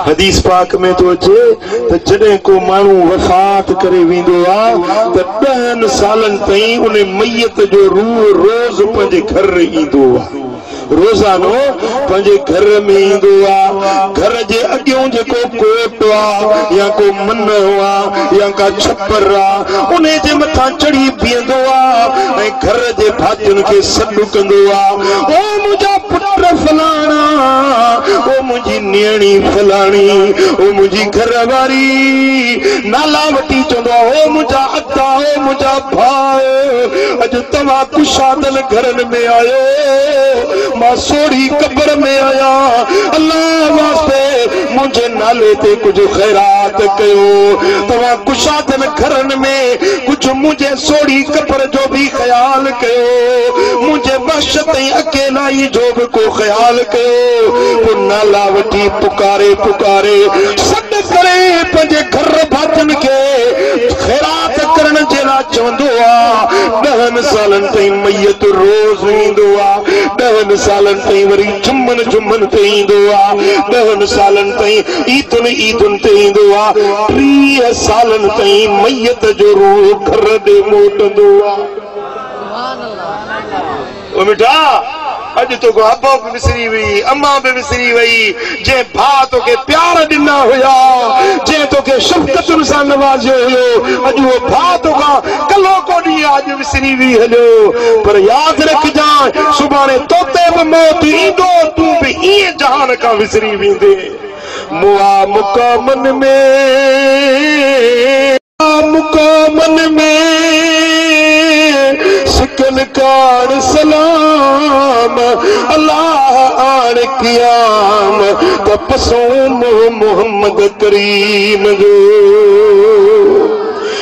حديث پاڪ ۾ ٿو اچي ته جڏهن ڪو ماڻهو وفات ڪري ويندو آ ته ڏهن سالن تائين ان ميت جو روح روز پنهنجي گهر ايندو آ. روزانو پنهنجي گهر ۾ ايندو آ. گهر جي اڳيون جيڪو ڪوٽ آ يا ڪو منهه آ يا ڪا ڇپر آ ان جي مٿان چڙهي بيهندو آ ۽ گهر جي ڀاتين کي سڏ ڪندو آ. منهنجا پٽ فلاڻا، او منهنجي نيڻي فلاڻي، او منهنجي گهر واري، نالا وٺي چوندو آ، او منهنجا ادا، او منهنجا ڀاء، اڄ توهان ڪشادن گهرن ۾ آيو، مان سوڙهي قبر ۾ آهيان، الله واسطي منهنجي نالي تي ڪجهه خيرات ڪيو، توهان ڪشادن گهرن ۾ ڪجهه منهنجي. سوڙهي قبر جو به خيال ڪيو، منهنجي وحشت ۽ اڪيلائي جو به ڪو خيال ڪيو، پوء نالا وٺي پڪاري پڪاري سڏ ڪري پنهنجي گهر ڀاتين کي خيرات ڪرڻ جي لاء چوندو هو، ڏهن سالن تائين ميت روز ايندو هو، ڏهن سالن تائين وري. جمن جمن تي ايندو آ ڏهن سالن تائين عيدن عيدن تي ايندو آ ٽيهه سالن تائين ميت جو روح گهر ڏي موٽندو آ او مٺا اڄ توکان ابو به وسري وئي امان به وسري وئي جنهن ڀاء توکي پيار ڏنا هيا جنهن توکي شفقتن سان نوازيو هيو اڄ اهو ڀاء توکان ڪلهوڪو ڏينهن آ سري وي هليو پر ياد رکجانء سڀاڻي توتي به موت ايندو تون به ايئن جهان کان وسري ويندين مئا مقامن ۾. مئا مقامن ۾، سڪل ڪاڻ سلام الله آڻ قيام ته پسون منهن محمد ڪريم جو.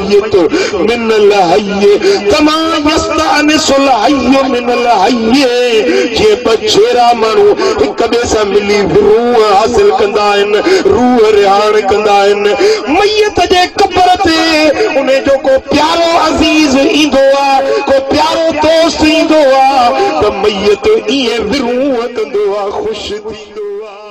الميت من الحي ڪما يستانس الحي من الحي جيئن ٻه جيرا ماڻهو هڪ ٻئي سان ملي روح حاصل ڪندا آهن روح رهاڻ ڪندا آهن ميت جي قبر تي ان جو ڪو پيارو عزيز ايندو آهي ڪو پيارو دوست ايندو آهي ته ميت ائين روح ڪندو آهي خوش ٿيندو آهي